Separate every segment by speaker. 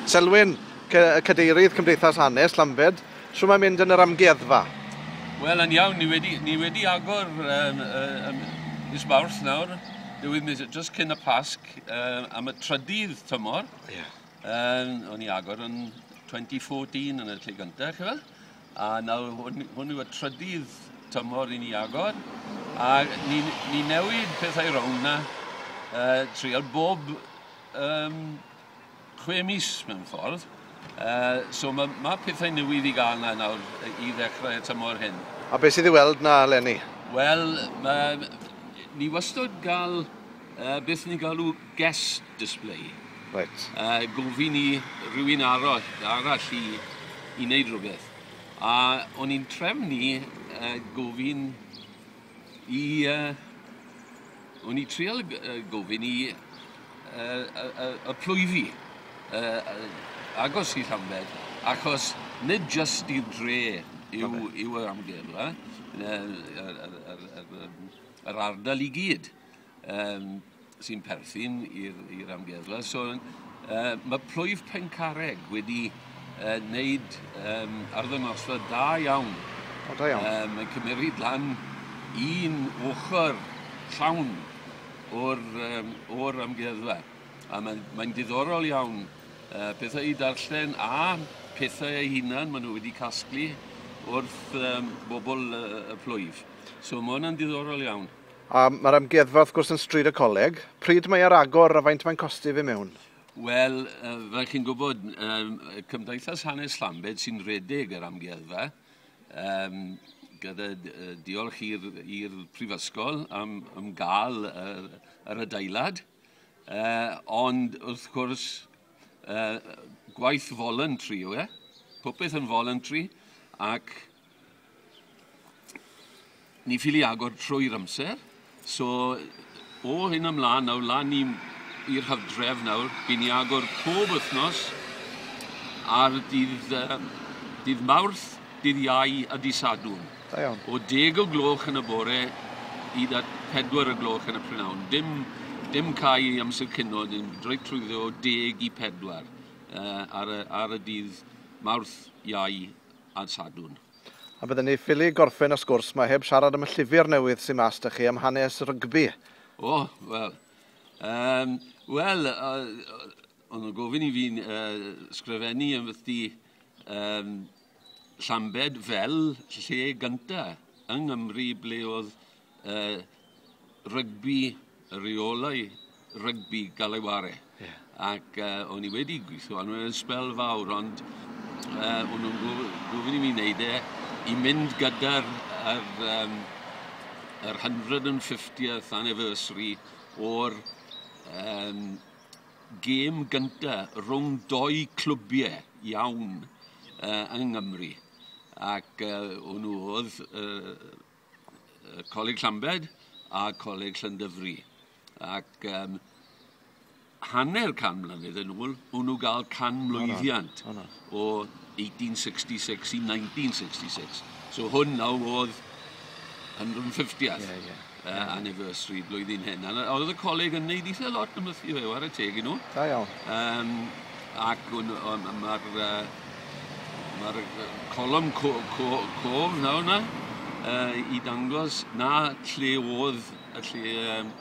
Speaker 1: Selwyn, Cadeirydd Cymdeithas Hanes Llambed, shwt mae'n mynd yn yr amgueddfa? Wel, yn
Speaker 2: iawn, ni wedi, ni wedi agor um, um, mis Mawrth nawr, newydd mis, just cyn y Pasg, um, am y trydydd tymor. Yeah. Um, o'n i agor yn 2014 yn y lle gyntaf, chi fel? A nawr hwn hwn yw y trydydd tymor i ni agor a ni'n ni newid pethau rownd 'na yy treial bob yym chwe mis mewn ffordd yy so ma' ma' pethau newydd i ga'l 'na nawr yy i ddechrau y tymor hyn. A be' sydd i weld 'na
Speaker 1: leni? Wel ma'
Speaker 2: ni wastod ga'l Uh, beth ni'n galw guest display. Right. Uh,
Speaker 1: gofyn i
Speaker 2: rhywun arall, arall i, i wneud rhywbeth. A o'n i'n trefnu uh, gofyn i... Uh, o'n i trial gofyn i uh, y, y, y plwyfi uh, agos i Llanbed, achos nid just i'r dre yw, yw yr amgueddfa, yr ardal i gyd. um, sy'n perthyn i'r amgueddfa. So, uh, mae plwyf Pencarreg wedi uh, wneud um, arddangosfa da iawn. O, da iawn.
Speaker 1: Um, mae'n cymeriad lan
Speaker 2: un ochr llawn o'r, um, or amgueddfa. A mae'n mae diddorol iawn uh, pethau i darllen a pethau eu hunan maen nhw wedi casglu wrth um, bobl uh, y plwyf. So mae hwnna'n diddorol iawn. A mae'r amgueddfa
Speaker 1: wrth gwrs yn Stryd y Coleg. Pryd mae ar agor a faint mae'n costi i fy mewn? Wel,
Speaker 2: fel chi'n gwybod, Cymdeithas Hanes Llambed sy'n rhedeg yr amgueddfa, um, gyda diolch i'r Prifysgol am, am gael yr, yr adeilad. Uh, ond wrth gwrs, uh, gwaith voluntary yw e. Popeth yn voluntary ac ni ffili agor trwy'r amser. So, o hyn ymlaen, nawr lan i'r hydref nawr, bydd ni agor pob wythnos ar dydd, uh, dydd Mawrth, dydd Iau a dydd Sadwn. Da iawn. O deg
Speaker 1: o gloch yn
Speaker 2: y bore hyd at pedwar o gloch yn y prynawn. Dim, dim cau i amser cino, dim reit trwyddo o deg i pedwar uh, ar, y, ar y dydd Mawrth, Iau a'r Sadwn. A bydden ni
Speaker 1: ffili gorffen y sgwrs mae heb siarad am y llyfr newydd sy'n mas da chi am hanes rygbi. O, oh,
Speaker 2: wel. Um, wel, uh, o'n nhw'n gofyn i fi'n uh, sgrifennu yn fythdi um, Llambed fel lle gynta yng Nghymru ble oedd uh, rygbi, reolau rygbi gael ei ware. Yeah. Ac uh, o'n i wedi gweithio arno yn spel fawr, ond uh, o'n nhw'n gofyn i mi wneud e i mynd gyda'r yr, um, yr 150th anniversary o'r um, gêm gynta rhwng dou clwbiau iawn uh, yng Nghymru. Ac uh, hwnnw oedd uh, Coleg Llambed a Coleg Llandyfri. Ac um, hanner can mlynedd yn ôl, hwnnw gael can mlwyddiant. Oh, no. Oh, no. o 1866 i 1966. So hwn nawr oedd 150th yeah, yeah. Uh, anniversary blwyddyn hyn. A oedd y coleg yn neud eitha lot yn mythu fe, war y teg i nhw. Da iawn. Um,
Speaker 1: ac
Speaker 2: mae'r uh, mae'r colwm co, co, cof nawr na uh, i dangos na lle oedd y lle um,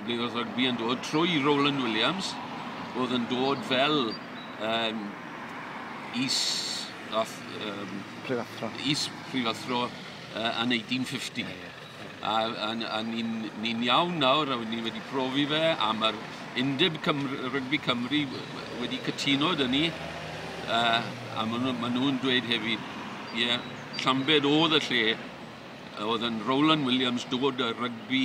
Speaker 2: Bydd y rygbi yn dod trwy Roland Williams, oedd yn dod fel um, is, ath, um, prifathro, is prifathro uh, yn 1850. Yeah, yeah. A, a, a ni'n ni iawn nawr, a ni wedi profi fe, a mae'r Undeb Cymru, Rygbi Cymru wedi cytuno dyn ni, uh, a maen nhw'n ma nhw dweud hefyd, ie, yeah, Llambed oedd y lle oedd yn Roland Williams dod y rygbi